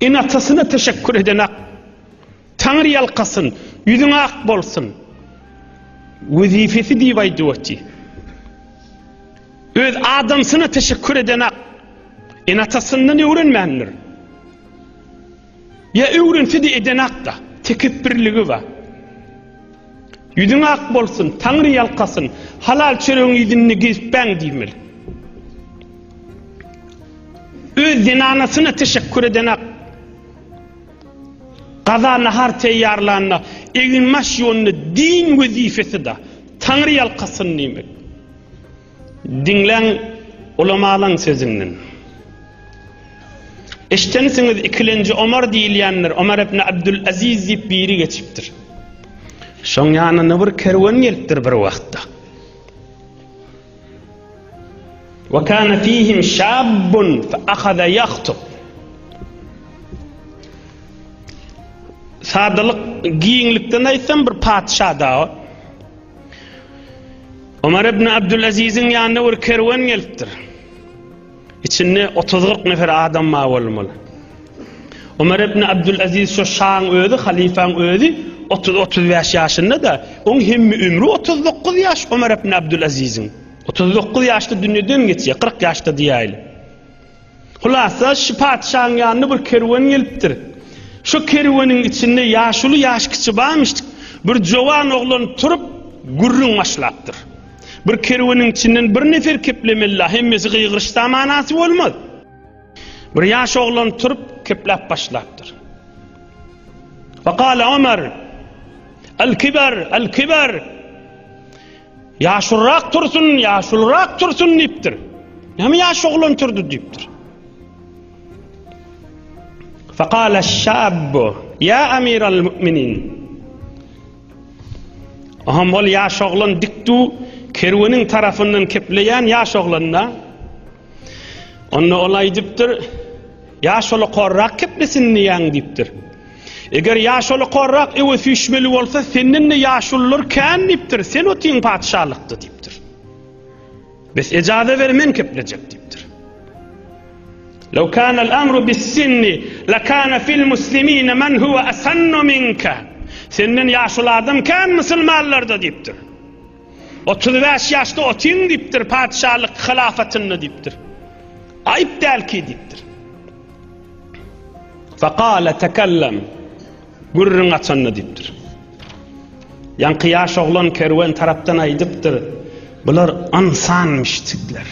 Ene-atasyna teşekkür edenak. Taňry ýalkasyn, ýüzüň ak bolsun. Wezipesi diýip aýdyp oty. Öz adamsyna teşekkür edenak. Ene-atasyndan öwrenmändir. Ýa öwrense-de edenak-da. Tekepbirligi bar. Ýüzüň ak bolsun, Taňry ýalkasyn, halal çöregiň ýüzünde gezip bäň diýmeli. Öz zenanasyna teşekkür edenak, gaza nahar teýýarlanda, egin-baş ýuwanda, din wezipesi-da, Taňry ýalkasyn diýmeli. Diňläň ulamalaň sözünden. Eşdensiňiz ikilenji Omar diýilýändir. Omar ibn Abdul Aziz diýip biri geçipdir. Şoň ýanyna bir kerwen gelipdir bir wagtda. Wa kana fihim şabun fa akhadha yahtub. Sadalyk giňlikden aýtsam bir patyşa da Ömer ibn Abdülaziziň ýanyna bir kerwen gelipdir. İçinde 30-40 nefer adam bar bolmaly. Ömer ibn Abdülaziz şu şaň özi, halifaň özi 30-35 ýaşynda da, oň hemmi ömrü 39 ýaş Ömer ibn Abdülaziziň. 39 ýaşda dünýeden geçýär, 40 ýaşda diýäýli. Hulasa, şu patyşaň ýanyna bir kerwen gelipdir. Şo kerweniň içinde ýaşuly ýaş kiçi barmyşdyk. Bir jowan oglan turup, gürrüň başlapdyr. Bir kerweniň içinden bir nefer keplemeli-la, hemmesi gygyryşsa manasy bolmaz. Bir ýaş oglan turup, kepläp başlapdyr. Wekale Omar, Al-kibar, al-kibar! Ýaşulyrak tursun, ýaşulyrak tursun diýipdir. Näme ýaş oglan turdy diýipdir. Faqala şabbu ýa amiral müminin. Aham ol ýaş oglan dikdu kerweniň tarafyndan kepleýän ýaş oglanda. Onda ol aýdypdyr, ýaş ola korrak keplesin diýýän diýipdir. Eger ýaşuly korrak ewe süýşmeli bolsa, senden-de ýaşulylar kän diýipdir, sen otyň patyşalykda diýipdir. Bes ejaza ber men keplejek diýipdir. Law kana al-amru bis-sinni lakana fil-muslimina man huwa asannu minka. Senden ýaşuly adam kän musulmanlarda diýipdir. 35 ýaşda otyň diýipdir patyşalyk hylafatynda diýipdir. Aýyp dälki diýipdir. Fakale tekellem, gürrüň açanda diýipdir. Ýaňky ýaş oglan kerwen tarapdan aýdypdyr, bular ynsan müşdikler.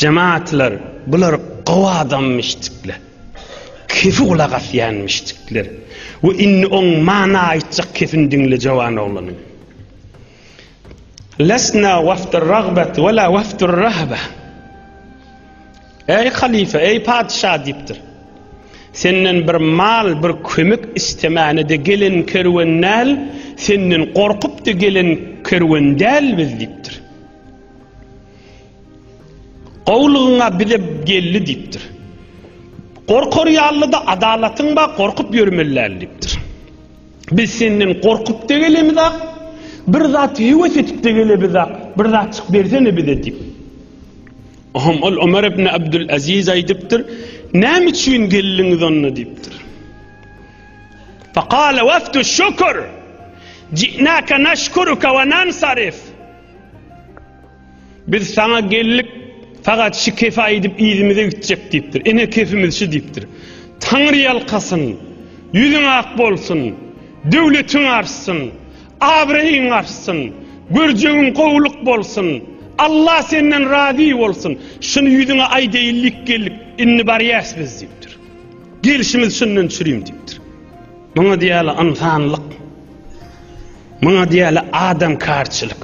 Jemaatlar, bular gowy adam müşdikler. Kefi gulak asýan müşdikler. We indi oň mana aýtjak kefini diňle jowan oglanyň. Lesna wefdir ragbet we la wefdir rahbe. Eý halyfa, eý patyşa diýipdir. Senden bir mal, bir kömek istemäne-de gelen kerwen däl, senden gorkup-da gelen kerwen däl biz diýipdir. Gowulygyň-a bize geldi diýipdir. Gorkar ýaly-da adalatyň bar, gorkup ýörmeli däl diýipdir. Biz senden gorkup-da gelemizak, bir zat höwes edip-de gelebizak, bir zatjyk bersene bize diýip. Oňa ol Omar ibn Abdul Aziz aýdypdyr, Näme üçin geldiňiz onda diýipdir. Faqala wafdu şükür. Ji'naka nashkuruka wa nansarif. Biz saňa geldik, fakat şu kefi aýdyp yzymyza gitjek diýipdir. Ene kefimiz şu diýipdir. Taňry ýalkasyn, ýüzüň ak bolsun, döwletiň artsyn, abraýyň artsyn, görjegiň gowulyk bolsun, Alla senden razy bolsun, şuny ýüzüňe aýdaýynlyk geldik, indi barýas biz diýipdir. Gelşimiz şundan çürim diýipdir. Muňa diýýärler ynsanlyk. Muňa diýýärler adamkarçylyk.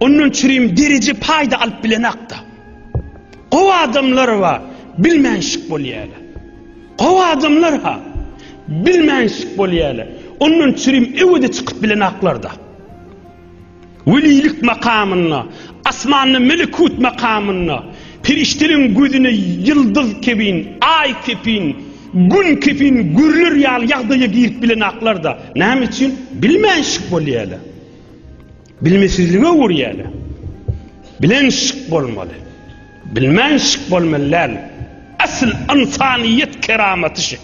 Ondan çürim deriji paýda alyp bilenakda. Gowy adamlar bar, bilmänşik bolýarlar. Gowy adamlar ha, bilmänşik bolýarlar. Ondan çürim öwede çykyp bilenaklarda. Welilik makamynda, asmanda melekut makamynda, perişdeliň gözüne ýyldyz kebin, aý kepin, gün kepin görler ýaly ýagdaýa girip bilenaklarda. Näme üçin? Bilmänşik bolýarlar. Bilmesizlige öwürýäler. Bilen şyk bolmaly. Bilmän şyk bolmaly däl. Asyl ynsanyýet keramaty şyk.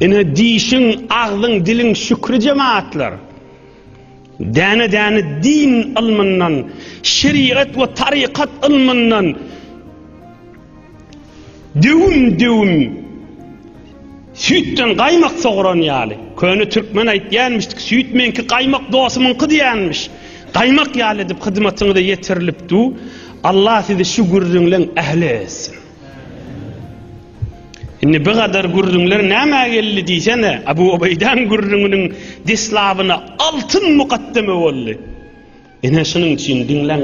Ine dişiň, agzyň, diliň şükri jemaatlar. Däne-däne din ylmyndan, şerigat we tarykat ylmyndan, Döwüm-döwüm süýtden gaýmak sogran ýaly. Köne türkmen aýtýanmyşdy, Süýt meňki, gaýmak dostumyňky diýenmiş. Gaýmak ýaly edip hyzmatyňyza ýetirilip dur. Allah sizi şu gürrüňleň ähli etsin. Indi bu gadar gürrüňler nämä geldi diýsene, Abu Obeýdäň gürrüňiniň deslabyna altyn mukaddeme boldy. Ine şunuň üçin diňläň.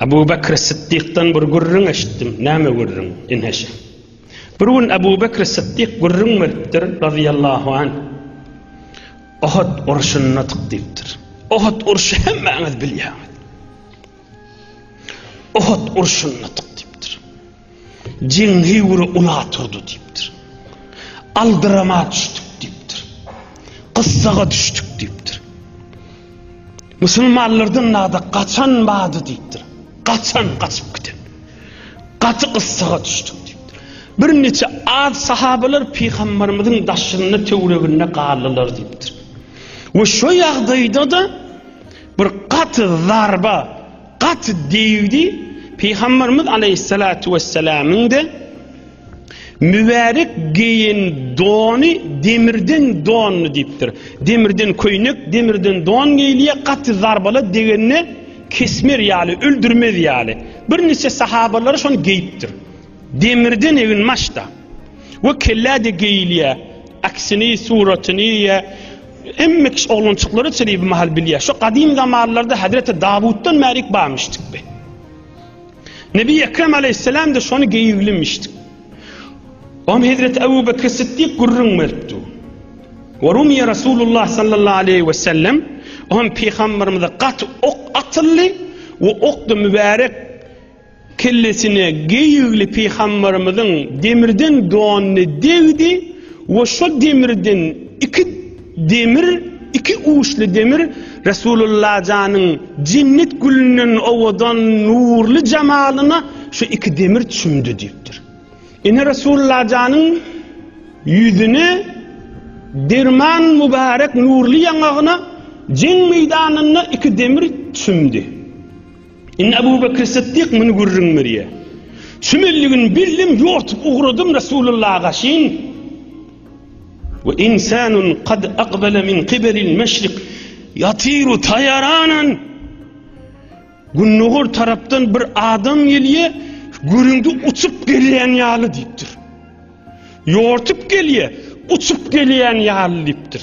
Abu Bakr Siddikden bir gürrüň eşitdim. Näme gürrüň, inheşe? Bir gün Abu Bakr Siddik gürrüň beripdir, razyýallahu anh. Ohad urşunda tyk diýipdir. Ohad urşy hemmäňiz bilýäňiz. Ohad urşunda tyk. Jeňňi uly ula turdy diýipdir. Aldyrama düşdük diýipdir. Gyssaga düşdük diýipdir. Musulmanlardan nada gaçan bady diýipdir. Gaçan gaçyp giden. Gaty gyssaga düşdük diýipdir. Bir neçe az sahabalar pygambarymyzyň daşynda töwreginde galdylar diýipdir. We şu ýagdaýda da bir gaty zarba Gaty degdi, Pygamberimiz aleýhissalatu wessalamyň-da mübärek geýen dony demirden dondy diýipdir. Demirden köýnek, demirden don geýilýär, gaty zarbala degende kesmer ýaly, öldürmez ýaly. Birnäçe sahabalary şony geýipdir. Demirden egin maşda we kellä-de geýilýär. Aksini, suratyny ýa Hemme kişi oglançyklary çyry bir mahal bilýär. Şu gadym zamanlarda Hazreti Dawutdan bärik barmyşdyk be. Nebi Ekrem aleyhisselam da şony geýiglimmişdik. Om Hazreti Abu Bekr Siddik gurrun beripdi. Ve rumiye Resulullah sallallahu aleyhi ve sellem om peygamberimize gat ok atıldı ve ok da mübarek Kellesine geýigli pygamberimiziň demirden donyny degdi we şo demirden iki demir, iki uçly demir Resulullajanyň jennet gülünden owadan nurly jamalyna şu iki demir çümdi diýipdir. Ine Resulullajanyň ýüzüne derman mübarek nurly ýaňagyna jeň meýdanynda iki demir çümdi. Indi Abu Bekr Sytdyk muny gürrüň berýär. Çümelligini bildim, ýortup ugradym Resulullaha gaşyn. Ve insanun kad akbele min kibelil meşrik yatiru tayaranan. Gündogar tarapdan bir adam gelýär, gürüňde uçup gelýän ýaly diýipdir. Ýortup gelýär, uçup gelýän ýaly diýipdir.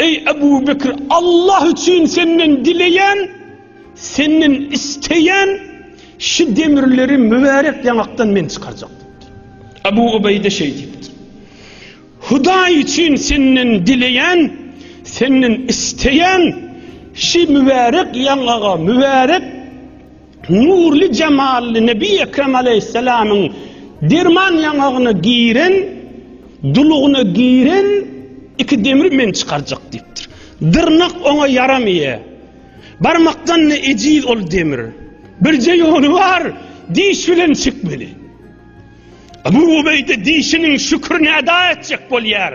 Eý Ebu Bekir, Allah üçin senden dileýän, senden isleýän, şu demirleri mübärek ýaňakdan men çykarjak diýipdir. Ebu Ubeýde şeý diýipdir. Hudaý üçin senden dileýän, senden isleýän, şu mübärek ýaňaga, mübärek nurly jemally Nebi Ekrem aleýhissalamyň derman ýaňagyna giren, dulugyna giren iki demri men çykarjak diýipdir. Dyrnak oňa ýaramaýa. Barmakdan-da ejiz ol demir. Birje ýoly bar, diş bilen çekmeli. Ebu Ubeýde dişiniň şükrini eda etjek bolýar.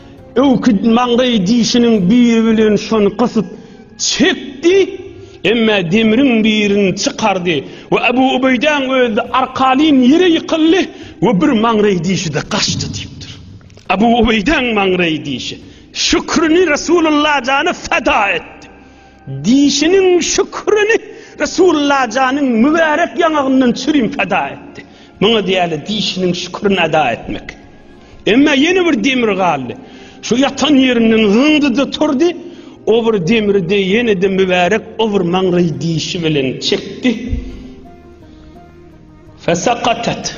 Öwküt maňlaý dişiniň biri bilen şony gysyp çekdi, emma demriň birini çykardy we Abu Ubeýdäň özi arkaýyn ýere ýykyldy we bir maňlaý dişi-de gaçdy diýipdir. Abu Ubeýdäň maňlaý dişi Şükrini Resulullah jana feda etdi. Dişiniň şükürini Resullajanyň mübärek ýaňagyndan çürim peda etdi. Muňa diýýärler dişiniň şükürini eda etmek. Emma ýene bir demir galdy. Şu ýatan ýerinden zyňdy-da turdy, o bir demri-de ýene-de mübärek o bir maňry dişi bilen çekdi. Fesakatat.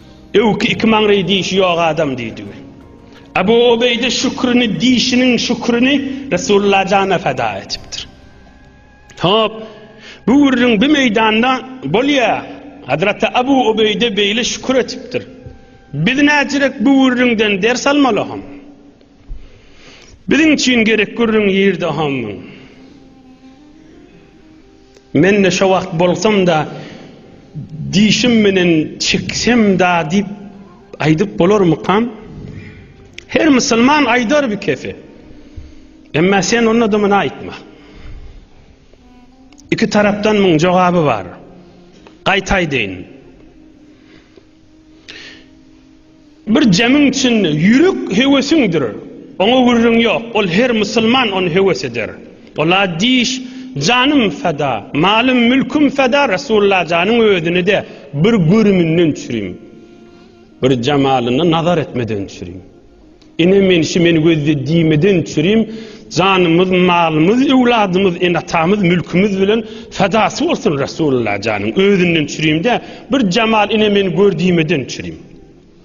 Öwki iki maňryý dişi ýok adam diýdigi. Abu Obeýde şükrini dişiniň şükrini Resulullah jana feda etipdir. Hop, bu gürrüň bi meýdanda bolýa. Hazreti Abu Obeýde beýle şükür etipdir. Biz näçerik bu gürrüňden ders almaly hom? Biziň üçin gerek gürrüň ýerde hom. Men-de şo wagt bolsam-da, dişim menen çeksem-da diýip aýdyp bolarmykam? Her musulman aýdar bi kefi. Emma sen onda-da muny aýtma. Iki tarapdan muň jogaby bar. Gaýtaýdyn. Bir jemiň içinde ýürek höwesiňdir, oňa gürrüň ýok, ol her musulman ony höwes eder. Ola diş, Janym feda, malym, mülküm feda Resullajanyň özüni-de bir görüminden çürim, bir jemalyna nazar etmeden çürim. Ene menşi men gözde diýmeden çürim, Janymyz, malymyz, öwladymyz, ene-atamyz, mülkümiz bilen Fedasy bolsun Resulullah janyň, özünden çürim-dä, Bir jemal ene men gör diýmeden çürim.